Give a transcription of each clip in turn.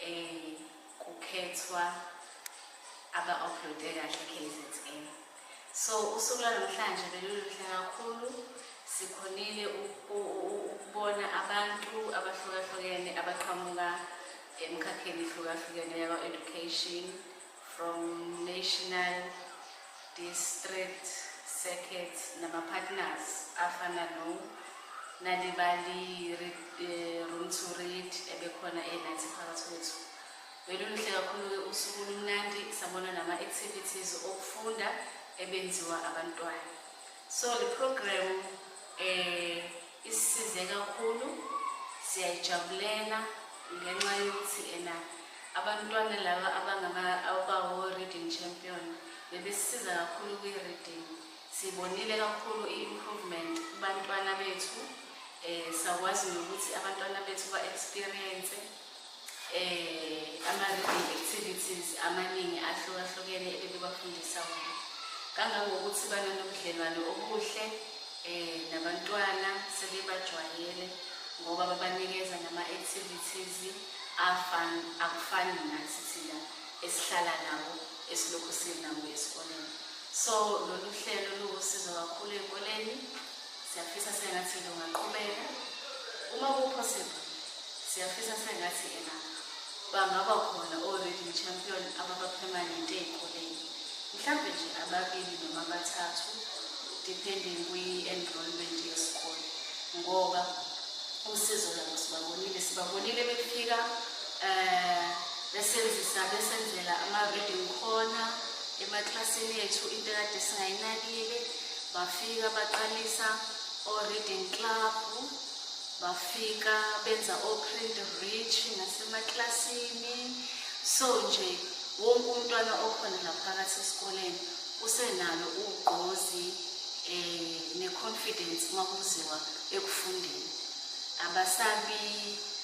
Ey kukhethwa aba uploade kahle KZN. So usuku lwanamhlanje beluluhle kakhulu sikhonile ukubona abantu abahlukahlukene abaqhamuka emkhakheni ehlukahlukene yakwa-education from National District Circuit namapartners afana no Nalibali eh, Room to Read ebekhona enathi phakathi kwethu. Beluluhle kakhulu-ke usuku lumnandi sabona nama-activities okufunda ebenziwa abantwana. So the program eh Isisize kakhulu siyayijabulela ngenxa yokuthi ena abantwana laba abangabawo-reading champion bebesisiza kakhulu kwi-reading sibonile kakhulu i-improvement kubantwana bethu um sakwazi nokuthi abantwana bethu ba-experience eh ama-reading activities amaningi ahlukahlukene ebebebafundisa wona kangangokuthi bananobudlelwane obuhle um nabantwana sebebajwayele ngoba babanikeza nama-activities akufani nathi thina esihlala nawo esilokhu sinawo esikoleni so lolu hlelo luwusizo kakhulu ey'koleni siyafisa sengathi lungaqhubeka uma kuphosibhe siyafisa sengathi ena bangaba khona o-reading champion ababapermanente ey'koleni mhlawumbe nje ababili noma abathathu depending kwi-enrollment yesikole ngoba usizo labo sibabonile sibabonile befika um besenzisa besenzela ama-reading khona emaklasini ethu into ekade singayinakile bafika baqalisa o-reading club bafika benza o-print rich nasemaklasini so nje wonke umntwana okhona ngaphakathi esikoleni usenalo ugqozi um ne-confidence uma kuziwa ekufundeni abasabi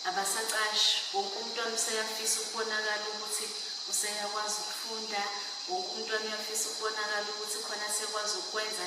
abasacashi wonke umntwana useyafisa ukubonakala ukuthi useyakwazi ukufunda wonke umntwana uyafisa ukubonakala ukuthi khona sekwazi ukwenza